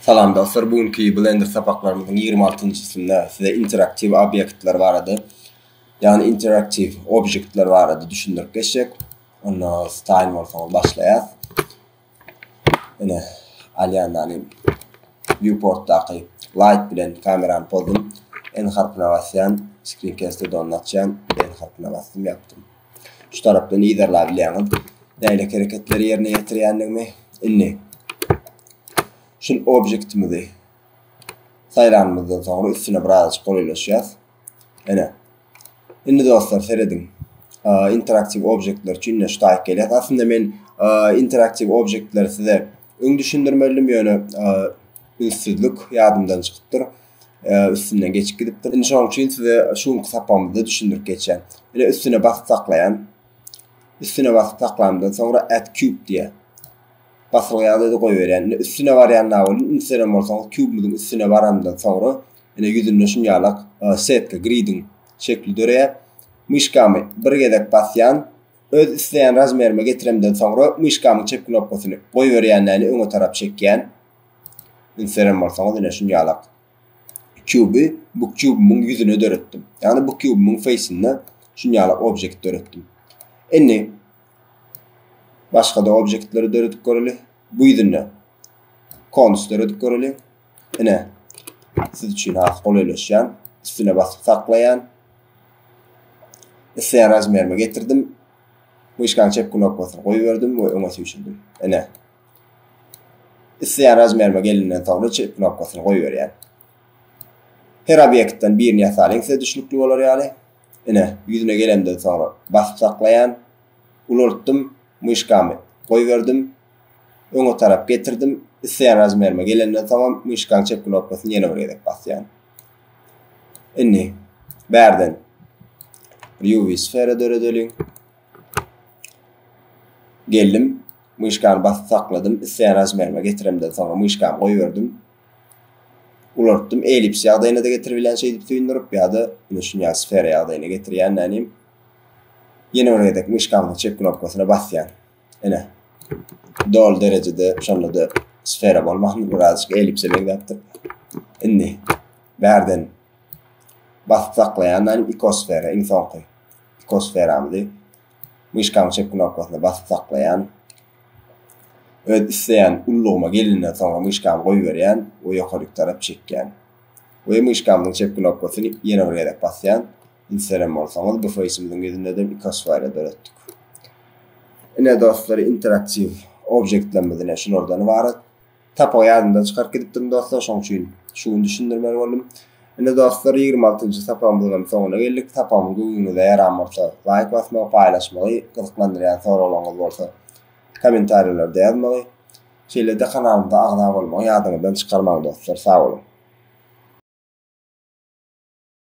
Salam dostlar, bu günki Blender sapaklarymyzyň ýigrimi altynjysynda size interaktiw obýektler barada, ýagny interaktiw objektler barada düşündirip geçjek. Onda style bolsaňyz başlaýas. Ine, alýandan viewportdaky light bilen kamerany pozum, N harpyna basýan, screen cast-de onu açýan, N harpyna basdym, ýapdym. Şu tarapda nizerlap bilýäňiz. Nähili hereketleri ýerine ýetirýändigimi. Indi şu objektimizi saýlanymyzdan soňra üstüne biraz golaýlaşýas. Ene. Indi dostlar serediň. Interaktiw objektler üçin şu taýyk gelýär. Aslynda men interaktiw objektleri size öň düşündirmeldim, ýöne ünsüzlik ýadymdan çykypdyr. üstünden geçip gidipdir. Indi şonuň üçin size şu günki sapamyzda düşündirip geçýän. Ine üstüne basyp saklaýan. Üstüne basyp saklamdan soňra add cube diýýär. Basylýandygy goýberýän. Ine üstüne barýan nawolin ünseren bolsaňyz kubymyzyň üstüne barandan soňra ine ýüzünde şun ýalak setka gridin şekli döreýär. Myşkamy bir gezek basýan. Öz isleýän razmerime getiremden soňra myşkamyň çep knopkasyny goýberýän näni öňe tarap çekýän. Instagram bolsaňyz ine şunýalak. Kuby bu kubymyň ýüzüne döretdim. Ýagny bu kubymyň feýsinde şunýalak objekt döretdim. Indi başga-da objektleri döredip göreli. Bu ýüzünde konus döredip göreli. Ine siz üçin has golaýlaşýan. Üstüne basyp saklaýan. Isleýän razmerime getirdim. Myşkanyň çep knopkasyny goýberdim we öňe süýşürdim. Ine, Isleýän razmerime gelenden soňra çyz knopkasyny goýberýän. Her obýektden birini ýasalyň size düşnükli bolar ýaly. Ine, ýüzüne gelemden soňra basyp saklaýan. Ulaltdym, myşkamy goýberdim. Öňe tarap getirdim. Isleýän razmerime gelenden soňam myşkaň çep knopkasyny ýene bir gezek basýan. Indi bärden bir UV sfera döredeliň. Geldim. Myşkany basyp sakladym, isleýän razmerime getiremden soňra myşkany goýberdim. Ulanupdym, ellips ýagdaýyna-da getiribilýän şeýdip süýndürip ýa-da ine şunýaly sfera ýagdaýyna getirýän nänim. Ýene bir gezek myşkamyzyň çep knopkasyna basýan. Ine. Doly derejede şonda-da sfera bolman birazajyk ellipse meňzäpdir. Indi bärden basyp saklaýan nänim ikosfera iň soňky ikosferamyzy myşkanyň çep knopkasyna basyp saklaýan. Öz isleýän ullugyma gelenden soňra myşkamy goýberýän we ýokaryk tarap çekýän. We myşkamyzyň çep knopkasyny ýene bir gezek basýan. Indi seren bolsaňyz bu feýsimiziň ýüzündeden iki oswaýla döretdik. Ine dostlar interaktiw objektlerimiz ine şulardan ybarat. Tapagy ýadymdan çykaryp gidipdim dostlar, şoň üçin şu gün düşündirmeli boldum. Indi dostlar ýigrimi altynjy sapagymyzyňam soňuna geldik. Sapagymyz göwnüňize ýaran bolsa, laýk basmagy, paýlaşmagy, gyzyklandyrýan soraglaryňyz bolsa kommentariýalarda ýazmagy, şeýle-de kanalymyza agza bolmagy ýadyňyzdan çykarmaň dostlar. Sag boluň!